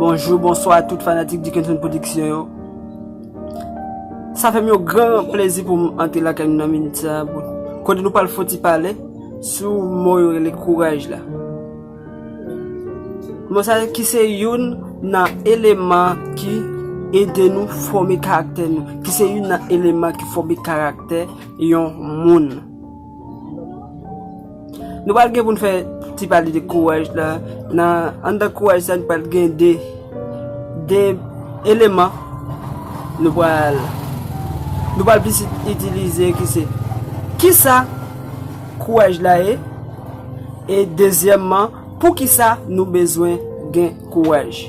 Bonjou, bonswa tout fanatik Dickenson Production yo. Sa fè m yon gran plezi pou m antre lakay nou nan minit sa a kote nou pral fè yon ti pale sou mo yo rele kouraj la. Mo sa ki se youn nan eleman ki ede nou fòme karaktè nou, ki se youn nan eleman ki fòme karaktè yon moun. Nou pral gen pou nou fè ti pale de kouraj la, nan anndan kouraj sa nou pral gen de, de eleman nou pral, nou pral plis itilize ki se, ki sa kouraj la ye, e dezyèmman, pou ki sa nou bezwen gen kouraj.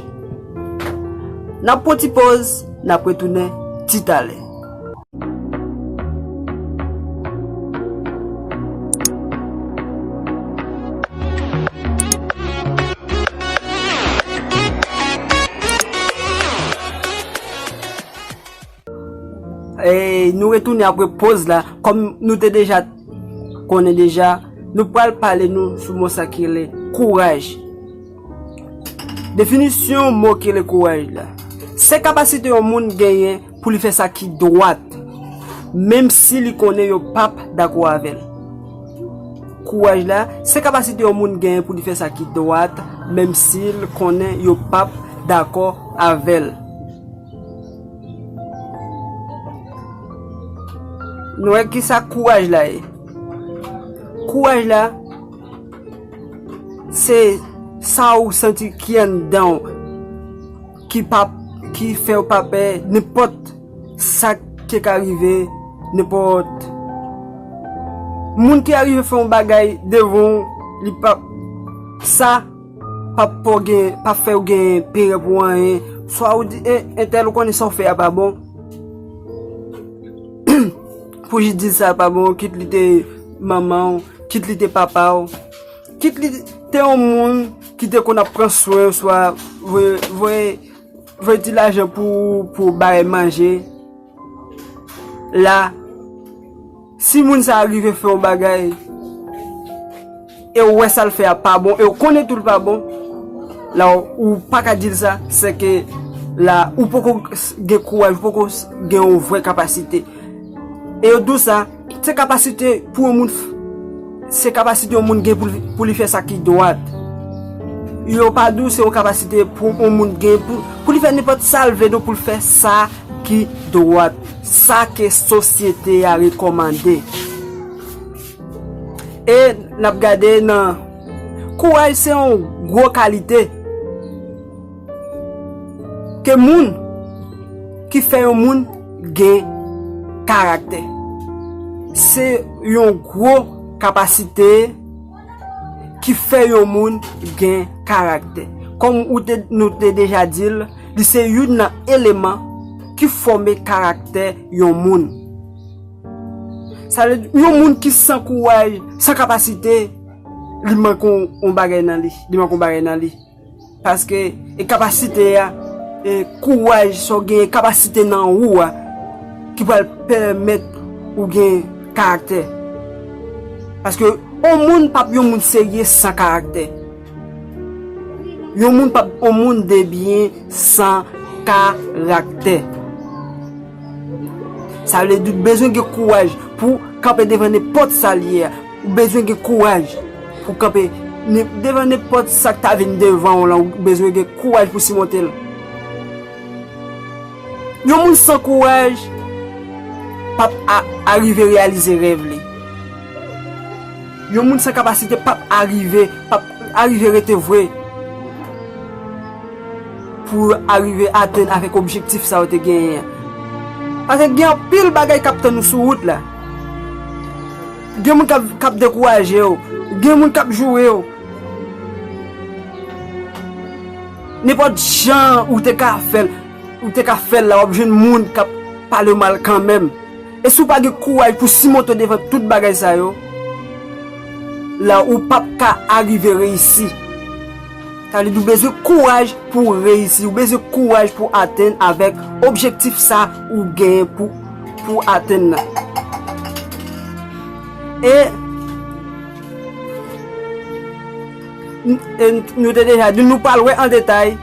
N ap pran ti poz, n ap retounen ti talè. E nou retouni apre poz la, kom nou te deja konen deja, nou pral pale nou sou mo sa ki le kouraj. Definisyon mo ki le kouraj la. Se kapasite yon moun genyen. pou li fè sa ki dwat menm si li konnen yo pap dakò avè l. Kouraj la, se kapasite yon moun genyen pou li fè sa ki dwat menm si l konnen yo pap dakò avè l. Nou wè ki sa kouraj la ye? Kouraj la, se sa ou santi ki anndan ou. ki pa ki fèw pa pè nenpòt sak te ka rive nenpòt moun ki arive fè yon bagay devan w li pap sa pap fè w gen pap fèw gen pè pou anyen swa ou di entèl ou konnen sa w fè a pa bon pou jis di sa pa bon kit li te manman w kit li te papa w kit li te yon moun ki te konn ap pran swen ou swa voye ti lajan pou bay manje la si moun sa rive fè ou bagay e ou wè sa l fè a pa bon e ou konnen tou l pa bon la ou pa ka di l sa se ke la ou poko gen kouwaj ou poko gen ou vwe kapasite e ou dou sa Se kapasite pou yon moun, se kapasite yon moun gen pou li fè sa ki dwat. Yo pa di w se yon kapasite pou yon moun gen pou li fè nenpòt sa l vle, donk pou l fè sa ki dwat, sa ke sosyete a rekòmande. E n ap gade nan kouraj se yon gwo kalite. Ke moun ki fè yon moun gen karaktè. Se yon gwo kapasite ki fè yon moun gen karaktè. Kòm nou te deja di l, li se youn nan eleman ki fòme karaktè yon moun. Sa vle di, yon moun ki san kouraj, san kapasite, li manke yon bagay nan li. Paske e kapasite a, e kouraj sa w gen, e kapasite nan ou a ki pral pèmèt ou gen karaktè. Paske yon moun p ap yon moun serye san karaktè. Yon moun p ap yon moun debyen san karaktè. Sa vle di ou bezwen gen kouraj pou kanpe devan nenpòt sa l ye a. Ou bezwen gen kouraj pou kanpe devan nenpòt sa k ta vin devan w lan, ou bezwen gen kouraj pou simonte l. Yon moun san kouraj pa p arive reyalize rèv li. Yon moun san kapasite pa p arive, pa p arive rete vwe pou l arive atenn avèk objektif sa yo te genyen an. Paske gen anpil bagay k ap tann ou sou wout la. Gen moun k ap dekouraje w. Gen moun k ap joure w. Nenpòt jan ou te ka fè l, ou te ka fè l la, w ap jwenn moun k ap pale w mal kanmenm. E si w pa gen kouraj pou simonte w devan tout bagay sa yo, la ou p ap ka arive reyisi. Sa vle di ou bezwen kouraj pou w reyisi, ou bezwen kouraj pou w atenn avèk objektif sa ou genyen pou. Pou atenn nan. E nou te deja di nou pral wè an detay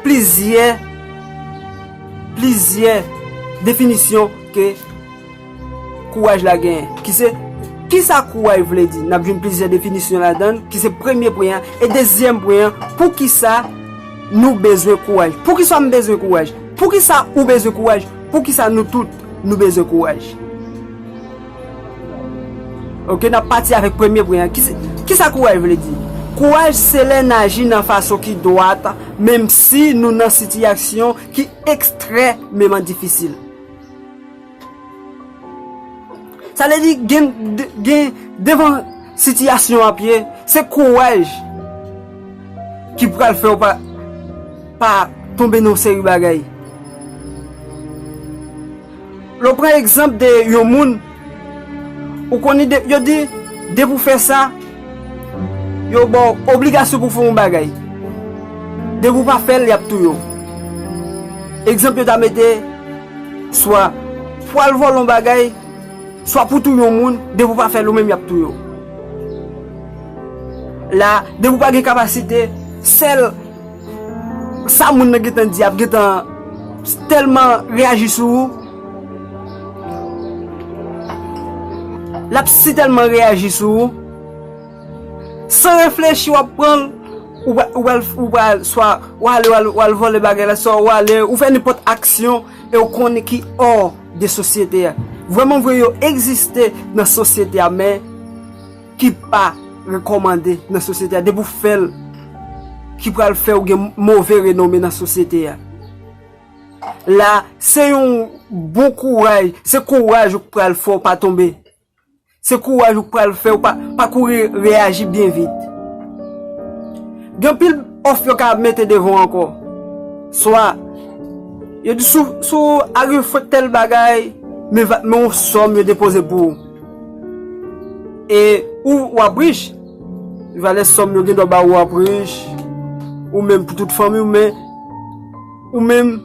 plizyè plizyè definisyon ke kouwaj la genyen. Ki se, ki sa kouwaj vle di? N ap jwenn plizyè definisyon ladan ki se premye pwen an. E dezyèm pwen an, poukisa nou bezwen kouwaj? Poukisa m bezwen kouwaj? Poukisa ou bezwen kouwaj? Poukisa nou tout nou bezwen kouraj? Ok, n ap pati avèk premye pwen an. Kisa kouraj vle di? Kouraj se lè n aji nan fason ki dwat menmsi nou nan sitiyaksyon ki ekstrèmeman difisil. Sa vle di gen devan sitiyasyon w ap ye, se kouraj ki pral fè w pa. Pa tonbe nan seri bagay. Lè w pran egzanp de yon moun, ou konnen de, yo di, depi w fè sa, yo ba w obligasyon pou w fè yon bagay. Depi w pa fè l, y ap touye w. Egzanp yo ta mete, swa pou w al vòlè yon bagay, swa pou w touye yon moun, depi w pa fè l ou menm y ap touye w. La, depi w pa gen kapasite, sèl. Sa moun nan gentan di ap gentan telman reyaji sou ou. Lap si telman reyaji sou ou. San reflechi wap pran l. Ou pral ou pral swa ou ale ou al vòlè bagay la swa ou ale ou fè nenpòt aksyon e ou konnen ki or de sosyete a. Vrèmanvre yo egziste nan sosyete a men. ki pa rekòmande nan sosyete a depi ou fèl ki pral fèw gen move renome nan sosyete a la se yon bon kouraj se kouraj ou k pral fè w pa tonbe se kouraj ou k pral fè ou pa kouri reyaji byen vit gen anpil òf yo ka mete devan w ankò swa yo di sou arive fè tèl bagay men yon sòm yo depoze pou ou. E ou wap rich. Valè sòm yo gen dwa ba ou wap rich. Ou menm pou tout fanmi ou men. Ou menm.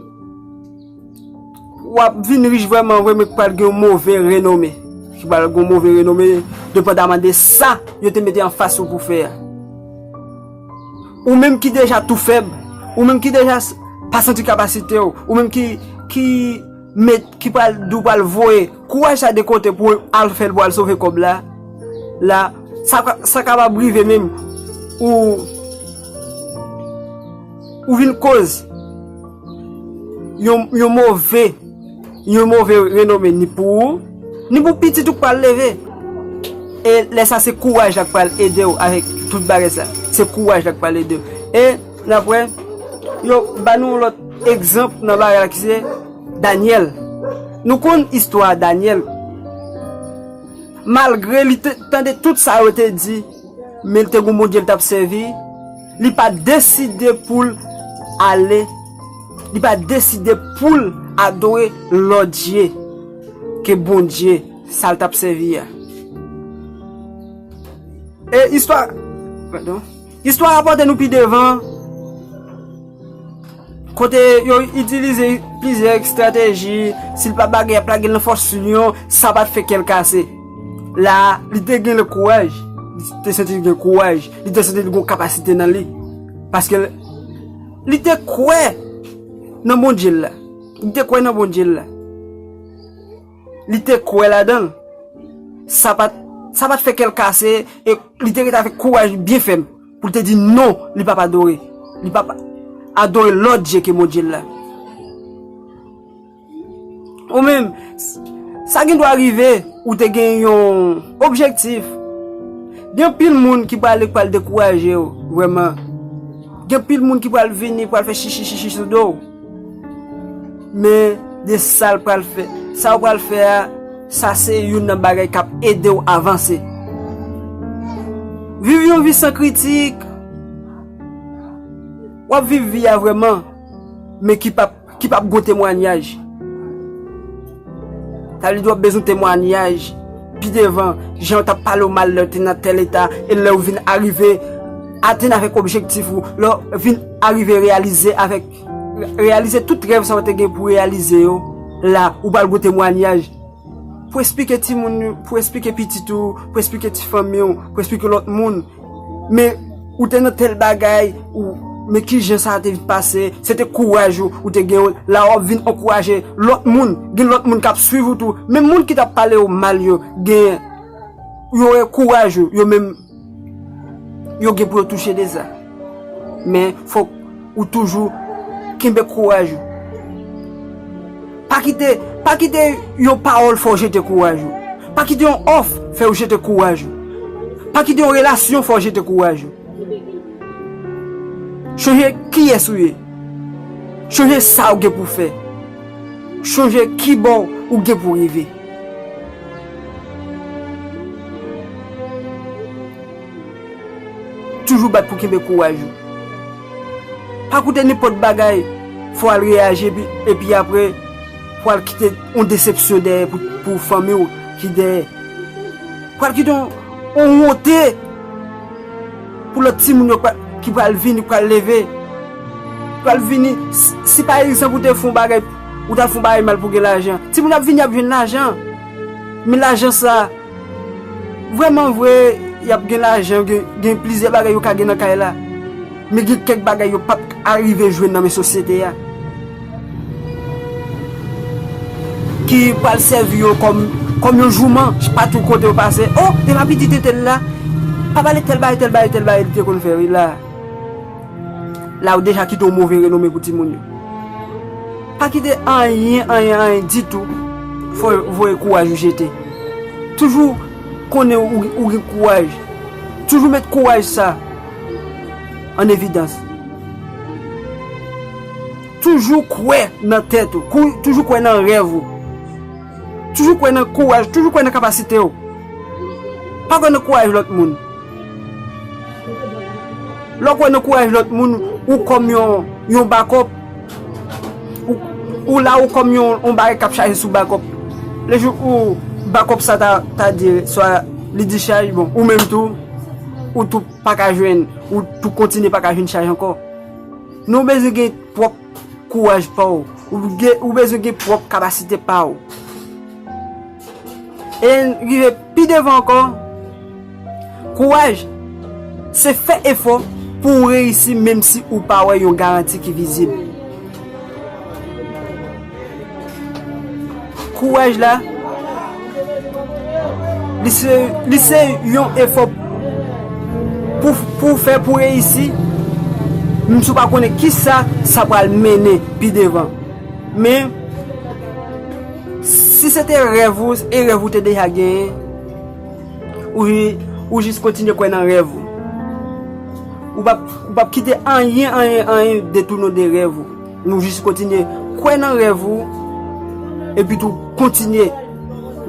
Wap vin rich vwèman vwèman ki pral gen yon move renome. Ki pral gen yon move renome. Depandaman de sa yo te mete an fas ou pou fè a. Ou menm ki deja tou fèb. Ou menm ki deja pa santi kapasite ou. Ou menm ki. Met ki pral di w pral voye kouraj sa de kote pou al fè l pou al sove kòb la la sa kapab rive menm ou ou vin koz yon move yon move renome ni pou ou ni pou pitit ou k pral leve e lè sa se kouraj la k pral ede w avèk tout bagay sa se kouraj la k pral ede w e N ap wè yo ban nou yon lòt egzanp nan bagay la ki se Dànyèl. Nou konn istwa Dànyèl. Malgre li te tande tout sa yo te di, men li te gen yon Bondye li t ap sèvi, li pa t deside pou l ale, li pa t deside pou l adore lòt dye ke Bondye sa l t ap sèvi a. E istwa, padon. Istwa a pote nou pi devan, kote yo itilize plizyè estrateji, si l pa bagen y ap lage l nan fòs linyon, sa pa t fè kè l kase. La a, li te gen le kouraj, li te santi li gen kouraj, li te santi li gen kapasite nan li, paske li te kwè nan Bondye l la, li te kwè nan Bondye l la. Li te kwè ladan l. Sa pa t fè kè l kase e li te rete avèk kouraj byen fèm pou l te di non li pap adore. Li pap adore lòt dye ke Bondye l la. Ou menm, sa gen dwa rive ou te gen yon objektif. Gen anpil moun ki pral dekouraje ou, vrèman. Gen anpil moun ki pral vini, pral fè chichichichi sou do ou. Men de sa l pral fè. Sa ou pral fè a, sa se youn nan bagay k ap ede w avanse. Viv yon vi san kritik. W ap viv vi a vrèman, men ki p ap gen temwanyaj. Sa vle di wap bezwen temwanyaj pi devan jan yo tap palew mal lèw te nan tèl eta e lèw vin arive atenn avèk objektif ou lèw vin arive reyalize avèk reyalize tout rèv sa ou te gen pou reyalize yo la ou pral gen temwanyaj pou esplike timoun pou esplike pitit ou pou esplike ti fanmiw pou esplike lòt moun. Men, ou te nan tèl bagay, ou, men ki jan sa te pase, se te kouraj ou, ou te gen, la w'ap vin ankouraje lòt moun, gen lòt moun k'ap swiv ou tou, menm moun ki t'ap pale ou mal yo, gen, yo wè kouraj ou, yo menm, yo gen pou yo touche de sa. Men, fòk. Ou toujou kenbe kouraj ou. Pa kite, pa kite yon pawòl fè w jete kouraj ou. Pa kite yon òf fè w jete kouraj ou. Pa kite yon relasyon fè w jete kouraj ou. Chonje kiyès ou ye. Chonje sa ou gen pou fè. Chonje ki bò ou gen pou rive. Toujou bat pou kenbe kouraj ou. Pa koute nenpòt bagay fò al reyaji epi aprè pou al kite yon desepsyon dèyè pou fanmi w ki dèyè. Pou al kite yon wonte pou lòt timoun yo ki pral vini, ki pral leve. Pral vini, si pa egzanp ou te fè yon bagay, ou ta fè yon bagay mal pou gen lajan. Timoun ap vini ap jwenn lajan. Men lajan sa. Vrèman vre, y ap gen lajan, gen plizyè bagay yo ka gen nan kay la, men gen kèk bagay yo pap k arive jwenn nan men sosyete a, ki pral sèvi yo kòm yon jouman patou kote yo pase, O, e pa pitit entèl la? Pa pale tèl bagay, tèl bagay, tèl bagay li te konn fè wi la a. la ou deja kite yon move renome pou timoun yo. Pa kite anyen, anyen, anyen ditou fè w voye kouraj ou jete. Toujou konnen ou gen kouraj, toujou met kouraj sa an evidans. Toujou kwè nan tèt ou, toujou kwè nan rèv ou. Toujou kwè nan kouraj, toujou kwè nan kapasite w. Pa kwè nan kouraj lòt moun. Lè w kwè nan kouraj lòt moun, ou kòm yon bakòp. Ou la ou kòm yon bagay k ap chaje sou bakòp. Le jou ou bakòp sa ta dire, swa li dichaj, bon, ou menm tou, ou tou pa ka jwenn, ou tou kontinye pa ka jwenn chaj ankò. Nou bezwen gen pwòp. kouraj pa w. Ou bezwen gen pwòp kapasite pa w. E rive pi devan ankò, kouraj se fè efò pou w reyisi menmsi ou pa wè yon garanti ki vizib. Kouraj la, li se yon efò pou fè pou reyisi, menm si ou pa konnen ki sa sa pral mennen pi devan. Men, si se te rèv ou, e rèv ou te deja genyen, ou jis kontinye kwè nan rèv ou. Ou pap kite anyen, anyen, anyen detounen ou de rèv ou. Nou jis kontinye kwè nan rèv ou epi tou kontinye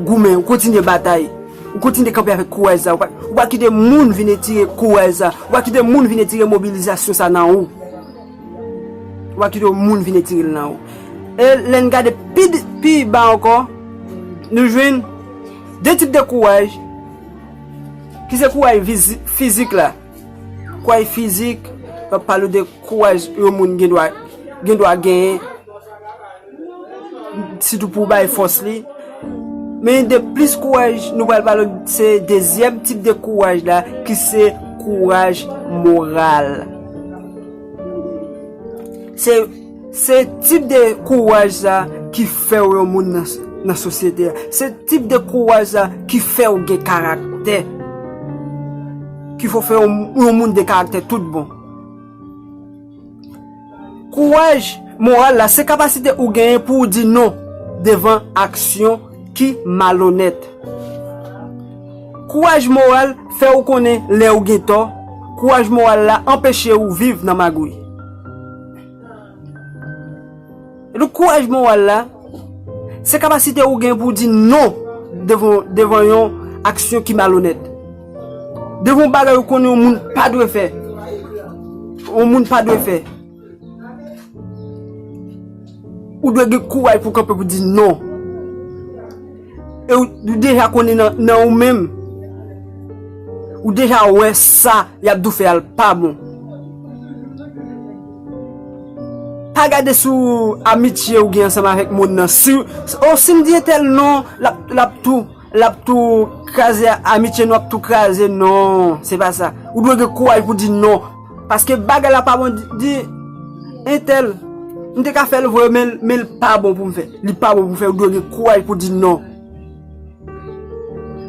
goumen, kontinye batay, ou kontinye kanpe avèk kouraj sa, ou pa kite moun vin etire kouraj sa, ou pa kite moun vin etire mobilizasyon sa nan ou. Ou pa kite moun vin etire l nan ou. E lè n gade pi ba ankò, nou jwenn 2 tip de kouraj ki se kouraj fizik la. Kouray fizik, yo ap pale de kouray yon moun gen dwa gen dwa genyen, sitou pou bay fòs li. Men de plis kouray nou pral pale se dezyèm tip de kouray la ki se kouray moral. Se. Se tip de kouraj sa ki fèw yon moun nan sosyete a. Se tip de kouraj sa ki fèw gen karaktè. Ki fè w fè yon moun de karaktè tout bon. Kouraj moral la se kapasite ou genyen pou w di non devan aksyon ki malonèt. Kouraj moral fè w konnen lè ou gen tò. Kouraj moral la anpeche ou viv nan magouy. Epi kouraj moral la, se kapasite ou gen pou di non devan yon aksyon ki malonèt. Devan yon bagay ou konnen yon moun pa dwe fè. Yon moun pa dwe fè. Ou dwe gen kouraj pou kanpe pou di non. E ou deja konnen nan ou menm, ou deja wè sa y ap di w fè a l pa bon. Pa gade sou amitye ou gen ansanm avèk moun nan. Si m di entèl non, l ap tou kraze amitye nou, l ap tou kraze. Non, se pa sa. Ou dwe gen kouraj pou di non. Paske bagay la pa bon di entèl. M te ka fè l vre men l pa bon pou m fè. Li pa bon pou fè ou dwe gen kouraj pou di non.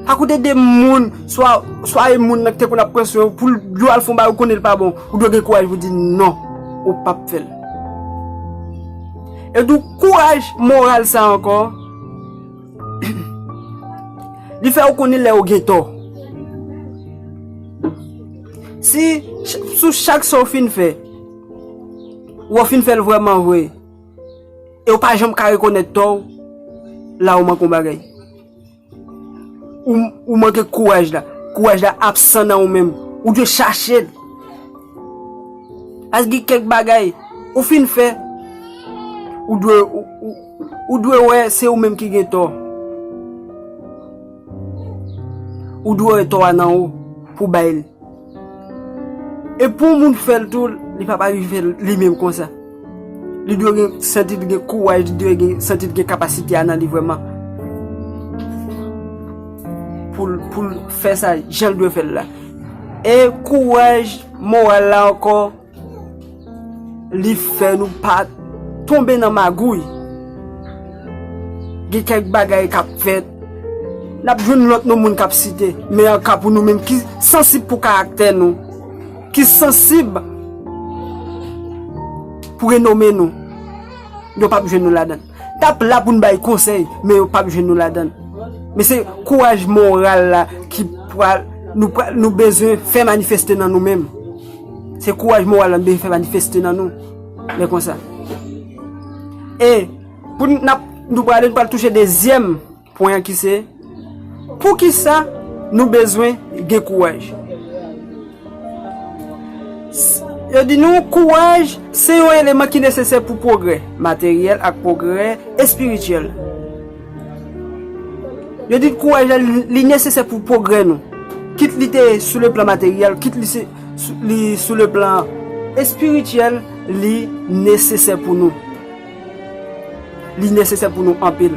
Pa koute de moun swa e moun nan ki te konn ap pran swen ou pou l di w al fè yon bagay ou konnen l pa bon. Ou dwe gen kouraj pou di non ou p ap fè l. E tou kouraj moral sa ankò li fè ou konnen lè ou gen tò. Si sou chak sa ou fin fè, ou fin fè l vrèman vre, e ou pa janm ka rekonèt tò ou, la ou manke yon bagay. Ou manke kouraj la. Kouraj la absan nan ou menm. Ou dwe chache l. Paske gen kèk bagay, ou fin fè, ou dwe wè se ou menm ki gen tò. Ou dwe wè tò a nan ou pou bay li. E pou yon moun fè l tou, li pa pa rive fè l li menm konsa. Li dwe gen santi l gen kouraj, li dwe gen santi l gen kapasite a nan li vrèman. Pou l pou l fè sa jan l dwe fè l la. E kouraj moral la ankò. Li fè nou pa tonbe nan magouy. Gen kèk bagay k ap fèt, n ap jwenn lòt non moun k ap site. Men an ka pou nou menm ki sansib pou karaktè nou, ki sansib pou renome nou, yo p ap jwenn nou ladan l. Tap la pou n bay konsèy men yo pap jwenn nou ladann. Men se kouraj moral la ki pral nou pral nou bezwen fè manifeste nan nou menm. Se kouraj moral la nou bezwen fè manifeste nan nou lè konsa. E pou n ap nou pral ale nou pral touche dezyèm. Pwen an ki se, Poukisa nou bezwen gen kouraj? S, Yo di nou kouraj se yon eleman ki nesesè pou pwogrè materyèl ak pwogrè espirityèl. Yo di kouraj la li nesesè pou pwogrè nou, kit li te sou le plan materyèl, kit li se li sou le plan espirityèl li nesesè pou nou. Li nesesè pou nou anpil.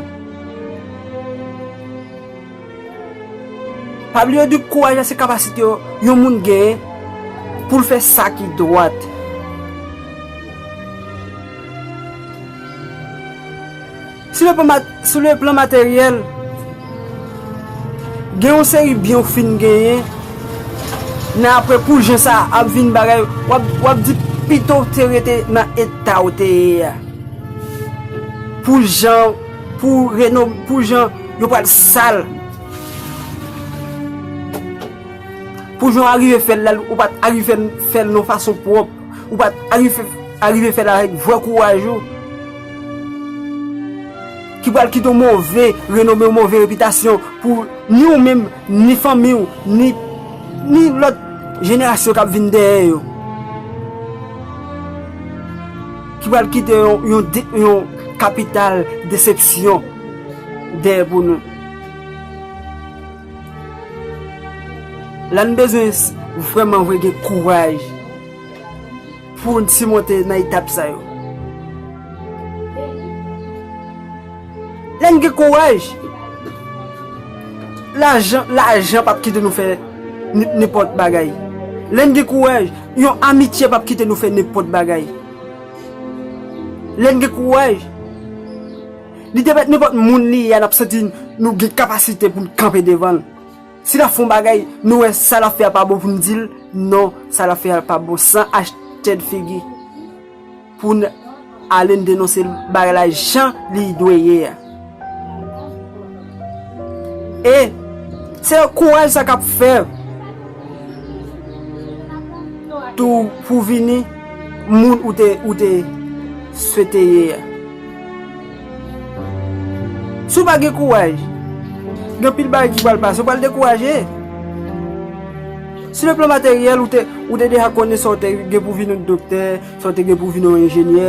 Pa bliye di kouraj la se kapasite yo yon moun genyen pou l fè sa ki dwat. Si nou pa. Sou le plan materyèl, gen yon seri byen ou fin genyen, men apre pou jen sa a ap vin bagay, w ap di pito w te rete nan eta ou te ye a. Pou jan, pou reno, pou jan yo pral sal, pou jan w arive fè l la, ou pa t arive fè l yon fason pwòp. Ou pa arive fè l avèk vrè kouraj ou. Ki pral kite yon move renome, yon move repitasyon pou ni ou menm, ni fanmi ou, ni lòt jenerasyon k ap vin dèyè yo. Ki pral kite yon kapital desepsyon dèyè pou nou. La n bezwen vrèman vre gen kouraj pou n simonte nan etap sa yo. La n gen kouraj, lajan pap kite nou fè nenpòt bagay. Lè n gen kouraj, yon amitye pap kite nou fè nenpòt bagay. Lè n gen kouraj. Li te mèt nenpòt moun li ye a n ap santi nou gen kapasite pou n kanpe devan l. Si l ap fè yon bagay, nou wè sa l ap fè a pa bon pou n di l non sa l ap fè a pa bon san achte n figi pou n ale n denonse bagay la jan li dwe ye a. E se yon kouraj sa k ap fè tou pou w vini moun ou te swete ye a. Si w pa gen kouraj, gen anpil bagay ki pral pase, ou pral dekouraje. Sou le plan materyèl, ou te deja konnen sa w te gen pou vin yon doktè, sa w te gen pou vin yon enjenyè,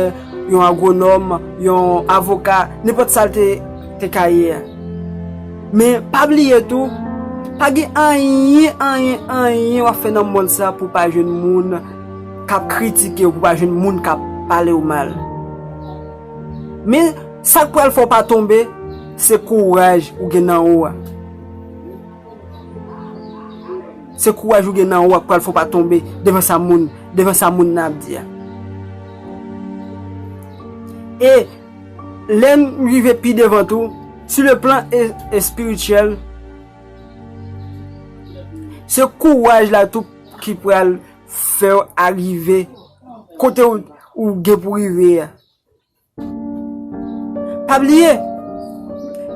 yon agwonòm, yon avoka, nenpòt sa l te ka ye a. Men, pa bliye tou, pa gen anyen, anyen, anyen w ap fè nan mond sa pou w pa jwenn moun k ap kritike w, pou w pa jwenn moun k ap pale w mal. Men, sa k pral fè w pa tonbe, se kouraj ou gen nan ou a. Se kouraj ou gen nan ou a k pral fè w pa tonbe devan sa moun, devan sa moun nan ap di a. E, lè n rive pi devan tou, sou le plan espirityèl, se kouraj la tou ki pral fè w arive. Kote ou gen pou rive a. Pa bliye,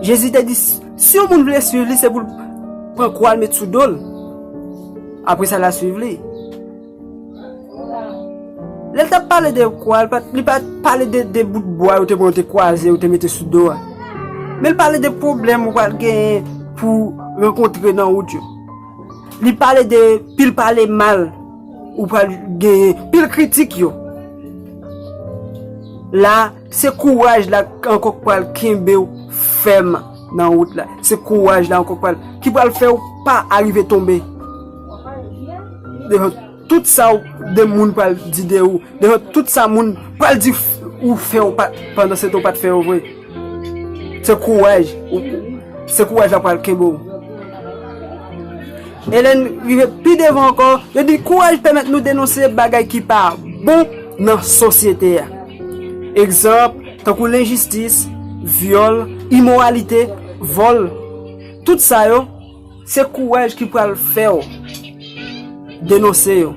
Jezi te di, si yon moun vle swiv li, se pou l pran kwa l met sou do l, apre sa l al swiv li. Lè l t ap pale de kwa, li pa t pale de bout bwa yo te pran, yo te kwaze, yo te mete sou do a. Men l pale de pwoblèm ou pral genyen pou rankontre nan wout yo. Li pale de pil pale mal. Ou pral genyen pil kritik yo. La, se kouraj la ankò k pral kenbe w fèm nan wout la. Se kouraj la ankò k pral, ki pral fè w pa arive tonbe. Devan tout sa w, de moun pral di de ou, devan tout sa moun pral di ou fè w pa, pandan se te w pa t fè yo vre. Se kouraj ou se kouraj la pral kenbe w. E lè n rive pi devan ankò, yo di kouraj pèmèt nou denonse bagay ki pa bon nan sosyete a. Egzanp, tankou lenjistis, vyòl, imoralite, vòl, tout sa yo. Se kouraj ki pral fè w denonse yo.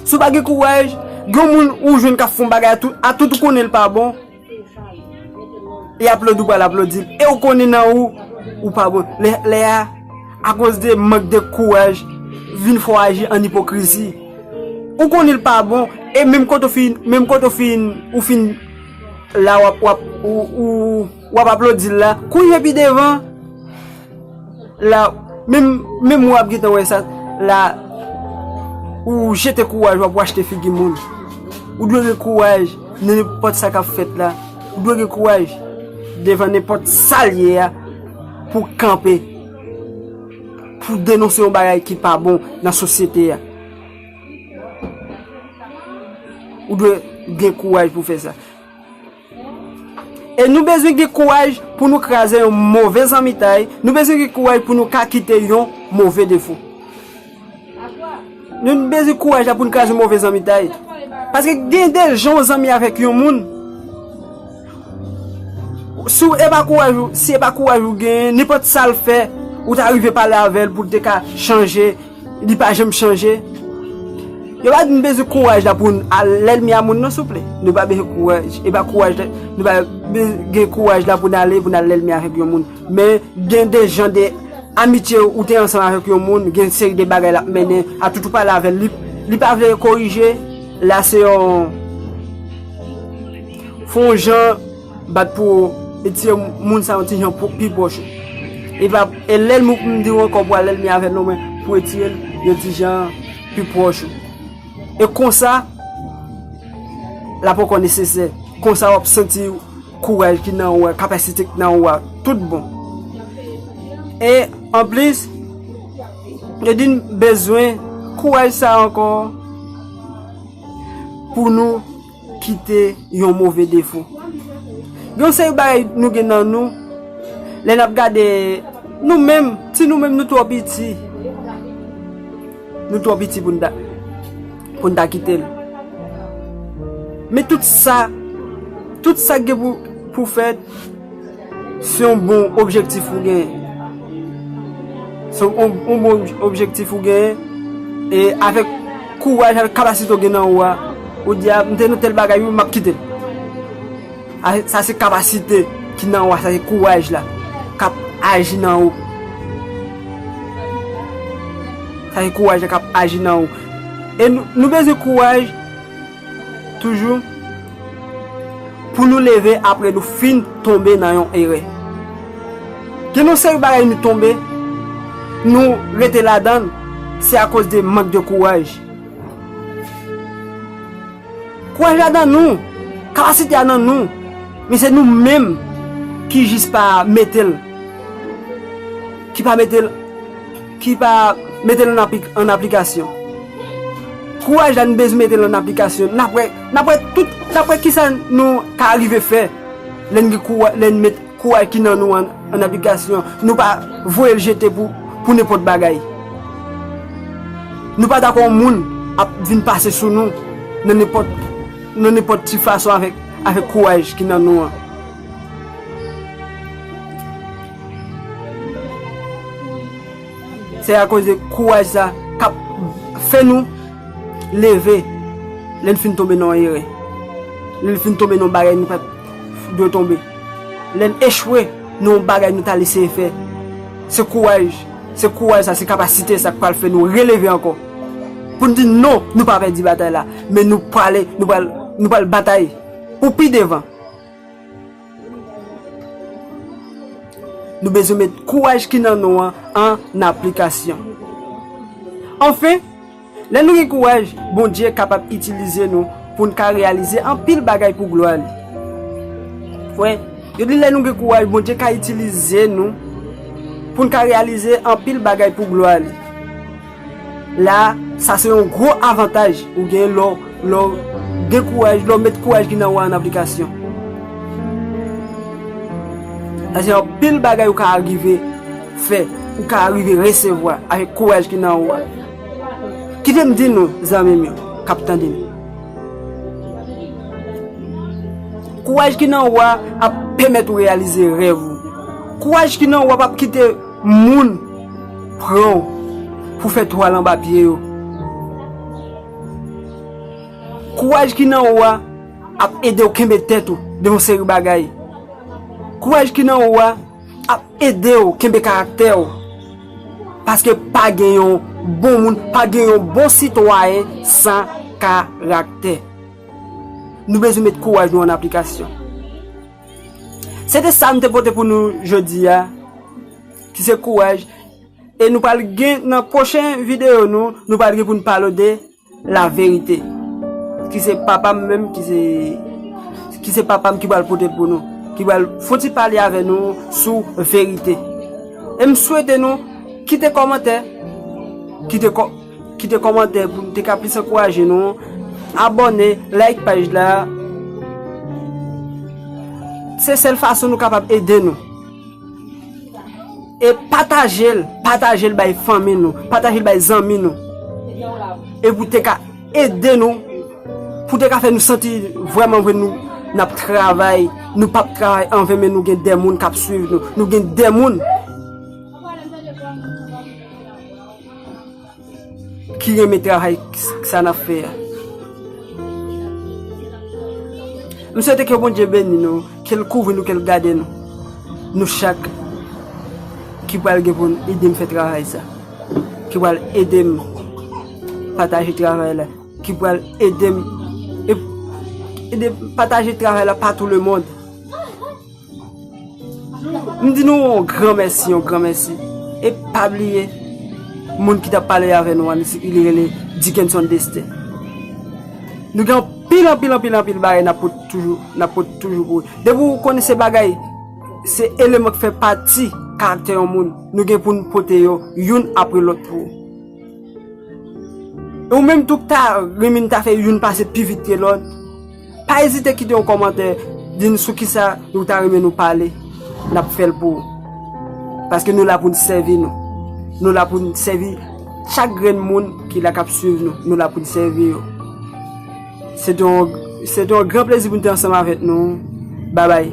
Si w pa gen kouraj, gen yon moun ou jwenn k ap fè yon bagay atout ou konnen l pa bon, e aplodi ou pral aplodi l, e ou konnen nan ou, ou pa bon. Lè a, akoz de mank de kouraj, vin fè w aji an ipokrizi. Ou konnen l pa bon, e menm kote ou fin la w ap. Wap aplodil la kounye pi devan la menm wap gentan wè sa la ou jete kouraj wap wachte figi moun ou dwe gen kouraj nan nenpòt sa kap fèt la ou dwe gen kouraj devan nenpòt sal ye a pou kanpe pou denonse yon bagay ki pa bon nan sosyete a ou dwe gen kouraj pou fè sa E nou bezwen gen kouraj pou nou kraze yon move zanmitay, nou bezwen gen kouraj pou nou ka kite yon move defo. Nou bezwen kouraj la pou nou kraze yon move zanmitay. Paske gen de jan ou zanmi avèk yon moun, si e pa kouraj ou, si e pa kouraj ou gen, nenpòt sa l fè, ou ta rive pale avè l pou l te ka chanje. Li pa janm chanje. Yo pa di nou bezwen kouraj la pou al lènmi a moun non souple. Nou pa bezwen kouraj. E pa kouraj la, nou pa gen kouraj la pou nou ale pou nou al lènmi avèk yon moun. Men gen de jan de amitye ou te ansanm avèk yon moun, gen yon seri de bagay l ap mennen a tout ou pale avè l, li pa vle korije, la se yon fon jan. Bat pou etye moun sa yon ti jan pou pi pwòch ou. E pa e lèl mou pou m di ou ankò pou al elmi avèl non men pou etye l yon ti jan pi pwòch ou. E konsa l ap ankò nesesè. Konsa w ap santi kouraj ki nan ou a, kapasite ki nan ou a tout bon. E anplis yo di n bezwen kouraj sa ankò pou nou. kite yon move defo. Gen yon seri bagay nou gen nan nou, lè n ap gade nou menm, ti nou menm nou twò piti. Nou twò piti pou n ta, pou n ta kite l. Men tout sa, tout sa k gen pou fèt. Se yon bon objektif ou genyen. Se yon bon objektif ou genyen. E avèk kouraj, avèk kapasite ou gen nan ou a, ou di a, m te nan tèl bagay wi, m ap kite l. Sa se kapasite ki nan ou a, sa se kouraj la k ap aji nan ou. Sa se kouraj la k ap aji nan ou. E nou bezwen kouraj. Toujou, pou nou leve apre nou fin tonbe nan yon erè. Gen yon seri bagay nou tonbe, nou rete ladan l, se akoz de mank de kouraj. Kouraj la nan nou, kapasite a nan nou, men se nou menm ki jis pa mete l, ki pa mete l. ki pa mete l an aplikasyon. Kouraj la nou bezwen mete l an aplikasyon. N ap wè kisa nou ka rive fè lè n met kouraj ki nan nou an an aplikasyon. Nou pa voye l jete pou nenpòt bagay. Nou pa dakò yon moun ap vin pase sou nou nan nenpòt ti fason avèk kouraj ki nan nou an. Se a koz de kouraj sa kap fè nou leve lè n fin tonbe nan yon erè, lè n fin tonbe nan yon bagay nou pat dwe tonbe, lè n echwe nan yon bagay nou tal eseye fè. Se kouraj, se kouraj sa, se kapasite sa k pral fè nou releve ankò pou n di non nou pa pèdi batay la men nou prale, nou pral batay pou pi devan. Nou bezwen met kouraj ki nan nou an an aplikasyon. Anfen, lè nou gen kouraj, Bondye kapab itilize nou pou n ka reyalize anpil bagay pou glwa li. Wè, yo di lè nou gen kouraj, Bondye ka itilize nou pou n ka reyalize anpil bagay pou glwa li. La, sa se yon gwo avantaj ou gen lè w gen kouraj, lè w met kouraj ki nan ou a an aplikasyon. Sa se anpil bagay ou ka rive fè, ou ka rive resevwa avèk kouraj ki nan ou a. Kite m di nou, zanmi m yo k ap tande m, kouraj ki nan ou a ap pèmèt ou reyalize rèv ou. Kouraj ki nan ou a p ap kite. Moun pran w pou fè twal anba pye yo. Kouraj ki nan ou a ap ede w kenbe tèt ou devan yon seri bagay. Kouraj ki nan ou a ap ede w kenbe karaktè w. Paske pa gen yon bon moun, pa gen yon bon sitwayen san karaktè. Nou bezwen met kouraj nou an aplikasyon. Se te sa nou te pote pou nou jodi a, ki se kouraj, e nou pral gen nan pwochen videyo nou, nou pral gen pou nou pale de la verite, ki se papa m menm, ki se, ki se papa m ki pral pote l pou nou, ki pral fon ti pale avè nou sou verite. E m swete nou kite kòmantè, kite kò. Kite kòmantè pou m te ka plis ankouraje nou. Abòne, like paj la. Se sèl fason nou kapab ede nou. E pataje l, pataje l bay fanmi nou, pataje l bay zanmi nou. E pou te ka ede nou, pou te ka fè nou santi vrèman vre nou n ap travay, nou pap travay anven men nou gen de moun k ap swiv nou, nou gen de moun. Ki renmen travay sa nap fè a. M swete ke Bondye beni nou, ke l kouvri nou, ke l gade nou. Nou chak ki pral gen pou n ede m fè travay sa. Ki pral ede m pataje travay la. Ki pral ede m pataje travay la pa tou le mond. M di nou yon gran mèsi, yon gran mèsi. E pa bliye, moun ki t ap pale avè nou an, li se, li rele Dickenson Destin. Nou gen anpil, anpil, anpil, anpil bagay n ap pote toujou, n ap pote toujou pou ou. Depi ou konnen se bagay, se eleman ki fè pati karaktè yon moun, nou gen pou nou pote yo, youn apre lòt pou ou. E ou menm tou ki ta rinmin ta fè youn pase pi vit ke lòt, Pa ezite kite yon kòmantè di n sou kisa ou ta renmen nou pale n ap fè l pou ou paske nou la pou n sèvi nou nou la pou n sèvi chak grenn moun ki la k ap swiv nou nou la pou n sèvi yo se te yon se te yon gran plezi pou n te ansanm avèk nou babay.